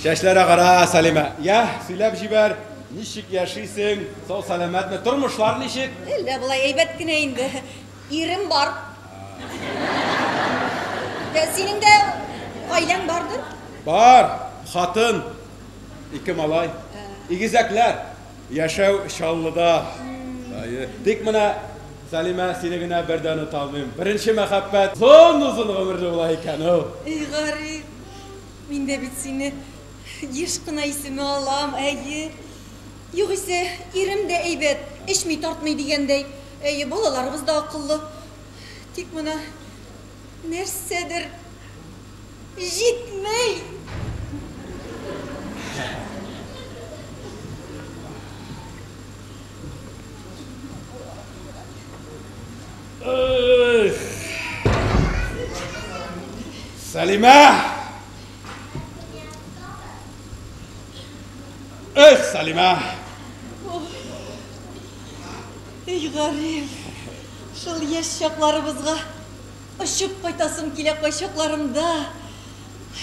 Чәчләр агара, Сәлимә. Йә, сөйләп җибәр, ничек яшисең, сау-сәламәтме, тормышлар ничек? Әллә болай әйбәт кенә инде. Ирем бар. Ә синең дә гаиләң бардыр? Бар, хатын, ике малай, игезәкләр. Яшәү Чаллыда. Әйе. Тик менә, Сәлимә, сине генә бер дә оныта алмыйм. Беренче мәхәббәт озын-озын гомерле була икән ул. И гариф. Мин дә бит сине еш кына исемә алам, әйе. Югыйсә, ирем дә әйбәт, эчми-тартмый дигәндәй, әйе, балаларыбыз да акыллы. Тик менә нәрсәдер җитми. Сәлимә! Эх, Сәлимә! Эй, Гариф, шул яшь чакларыбызга очып кайтасым килә кайчакларымда.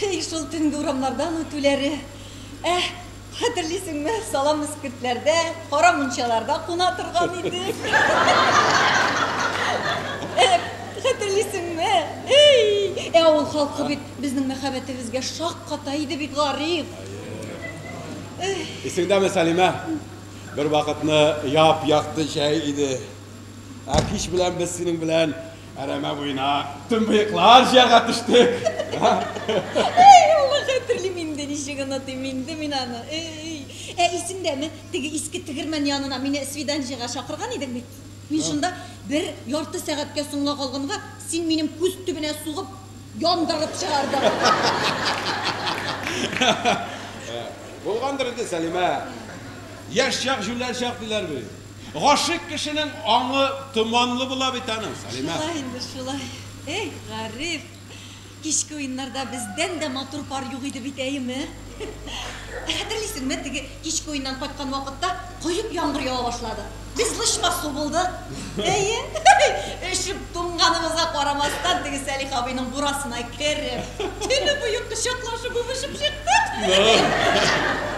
Эй, шул төнге урамнардан үтүләре. Ә, Хәтерлисеңме, салам эскертләрдә, кара мунчаларда куна торган идек. Эк, хәтерлисеңме? Эй! Ә авыл халкы бит безнең мәхәббәтебезгә шакката иде бит, Гариф. Исеңдәме, Сәлимә? Бервакытны яп-якты җәй иде. Ә кич белән без синең белән Әрәмә буена төнбыеклар җыярга төштек. Әй, Алла хәтерлим инде, ничек онытыйм инде мин аны. Әй. Ә исеңдәме, теге иске тегермән янына мине свиданҗиегә чакырган идең бит? Мин шунда бер ярты сәгатькә соңга калганга, син минем күз төбенә сугып, яндырып чыгардың. Булгандыр инде, Сәлимә. Яшь чак, җүләр чак, диләр бит. Гашыйк кешенең аңы томанлы була бит аның, Сәлимә. Шулай инде, шулай. Эх, Гариф! Кичке уеннарда бездән дә матур пар юк иде бит, әйеме? Ә хәтерлисеңме, теге кичке уеннан кайткан вакытта коеп яңгыр ява башлады. Без лычма су булдык. Әйе, өшеп туңганыбызга карамастан, теге Сәлих абыйның бурасына кереп, төне буе кочаклашып үбешеп чыктык. Ну!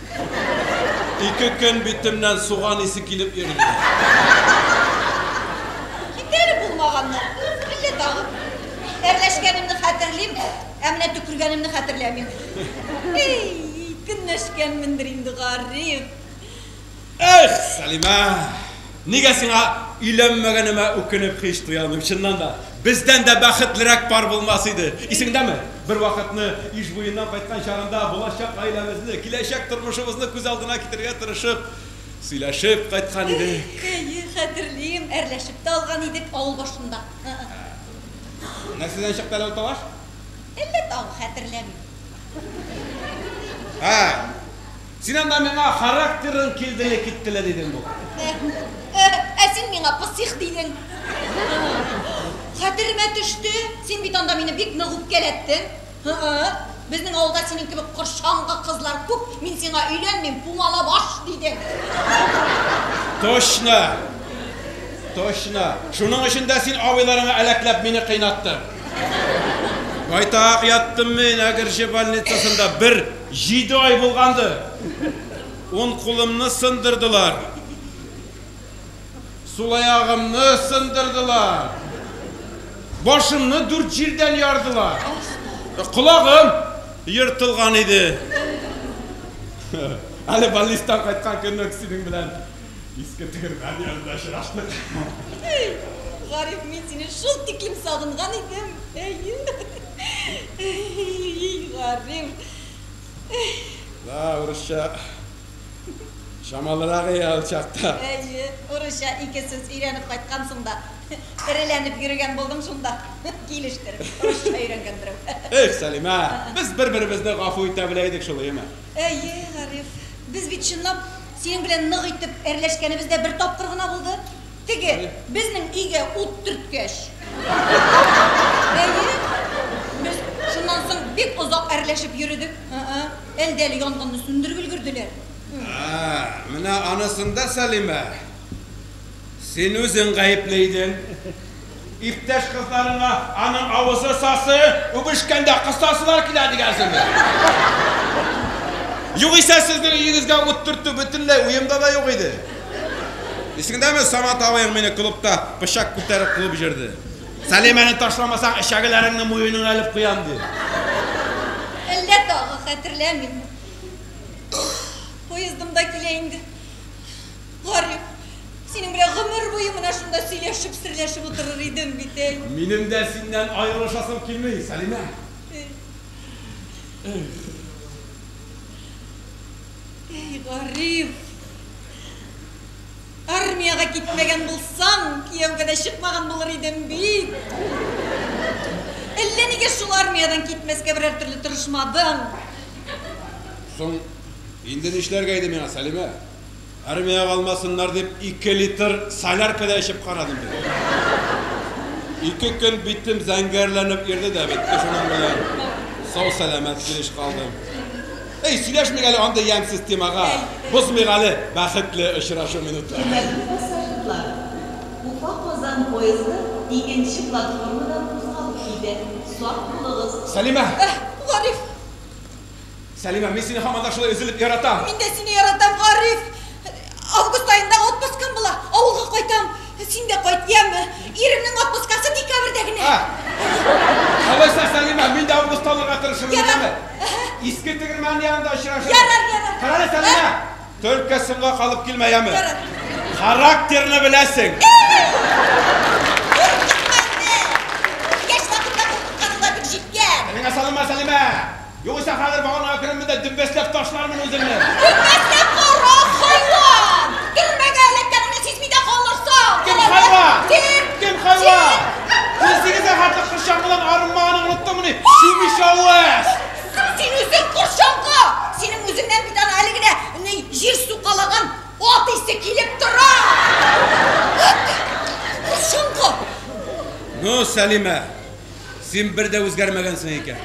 Ике көн битемнән суган исе килеп йөрде. Китәре булмаганмы әллә тагын? Әрләшкәнемне хәтерлим, ә менә төкергәнемне хәтерләмим. Әй, көнләшкәнмендер инде, Гариф. Эх, Сәлимә! Нигә сиңа өйләнмәгәнемә үкенеп һич туя алмыйм, чыннан да, бездән дә бәхетлерәк пар булмас иде. Исеңдәме, бервакытны Иж буеннан кайткан чагында, булачак гаиләмезне, киләчәк тормышыбызны күз алдына китерергә тырышып, сөйләшеп кайткан идек. Әйе, хәтерлим, әрләшеп тә алган идек авыл башында. Нәрсәдән чыкты әле ул тавыш? Әллә тагы хәтерләмим. Һай! Син анда миңа характерың килделе киттеле дидең бугай. Э-э, ә син миңа пысих дидең. Һы-ы, хәтеремә төште, син бит анда мине бик нык үпкәләттең. Һы-ы, безнең авылда синең кебек корчаңгы кызлар күп, мин сиңа өйләнмим, пумала баш, дидең. Точно, точно, шуның өчен дә син абыйларыңа әләкләп мине кыйнаттың. Байтак яттым мин Әгерҗе больницасында, бер. Җиде ай булгандыр, ун кулымны сындырдылар, сул аягымны сындырдылар, башымны дүрт җирдән ярдылар, колагым ертылган иде. Әле больнистан кайткан көнне үк синең белән иске тегермән янында очраштык. Гариф, мин сине шул тиклем сагынган идем, әйе. Гариф. Да, урысча. Чамалырак и ал чакта. Әйе, урысча ике сүз өйрәнеп кайткансың да. Эреләнеп йөрегән булдың шунда. Килештер, урысча өйрәнгән берәү. Эх, Сәлимә, без бер-беребезне гафу итә белә идек шул, әйеме? Әйе, Гариф. Без бит чынлап синең белән нык итеп әрләшкәнебез дә бер тапкыр гына булды. Теге, безнең өйгә ут төрткәч. Әйе. Без шуннан соң бик озак әрләшеп йөредек. Ә-ә, әлдә әле янгынны сүндереп өлгерделәр. Ә-ә, менә анысында, Сәлимә, син үзең гаепле идең. Иптәш кызларыңа аның авызы сасы, үбешкәндә кысасылар килә дигәнсеңме? Югыйсә сезнең өегезгә ут төртү бөтенләй уемда да юк иде. Исеңдәме, Самат абыең мине клубта пычак күтәреп куып җөрде. Сәлимәне ташламасаң, эчәгеләреңне муеныңа элеп куям, дип. Әллә тагы хәтерләмим. Поездым да килә инде. Гариф, синең белән гомер буе менә шунда сөйләшеп, серләшеп утырыр идем бит, әй. Минем дә синнән аерылышасым килми, Сәлимә. Эх. Әй, Гариф. Армиягә китмәгән булсам, кияүгә дә чыкмаган булыр идем бит. Әллә нигә шул армиядән китмәскә берәр төрле тырышмадым. Соң инде нишләргә иде миңа, Сәлимә? Армиягә алмасыннар дип, ике литр солярка да эчеп карадым бит. Ике көн битем зәңгәрләнеп йөрде дә бетте шуның белән. Сау-сәламәт килеш калдым. Эй, сөйләшмик әле андый ямьсез темага. Бозмыйк әле бәхетле очрашу минутларын. Хөрмәтле пассажирлар, Уфа-Казан поезды икенче платформадан кузгалып китә. Сак булыгыз! Сәлимә! Эх, Гариф! Сәлимә, мин сине һаман да шулай өзелеп яратам! Мин дә сине яратам, Гариф! Август аенда отпускым була, авылга кайтам. Син дә кайт, яме! Иремнең отпускасы декабрьдә генә. Ах! Алайса, Сәлимә, мин дә августта алырга тырышырмын, Ярар. яме? Әһә. Иске Тегермән янында очрашырбыз. Ярар, ярар. Карале, Сәлимә! Ә? Только соңга калып килмә, яме? Ярар. Характерны беләсең! Куркытма инде! Яшь хатынга куркытканың да бик җиткән! Телеңә салынма, Сәлимә! Югыйсә хәзер баганага керермен дә дөббәсләп ташлармын үзеңне! Дөббәсләп кара, хайван! Төрмәгә эләккәнеңне сизми дә калырсың! Кем хайван? Син! Кем хайван? Син сигезгә хәтле кыр чаңгыдан арынмаганың оныттыңмыни, чүмеч авыз! Кыр син үзең, кыр чаңгы! Синең үзеңнән бит аны әле генә ни җир сукалаган ат исе килеп тора! Үт! Кыр чаңгы! Ну, Сәлимә! Син бер дә үзгәрмәгәнсең икән.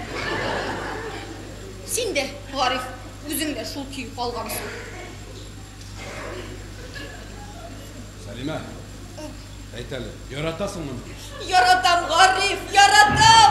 Син дә, Гариф, үзең дә шул көй калгансың. Сәлимә, әйт әле, яратасыңмыни? Яратам, Гариф, яратам!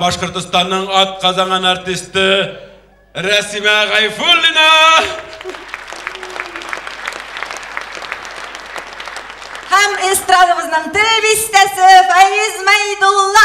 Башкортостанның ат казанган артисты Рәсимә Гайфуллина! Һәм эстрадабызның тел бистәсе Фаиз Майдулла!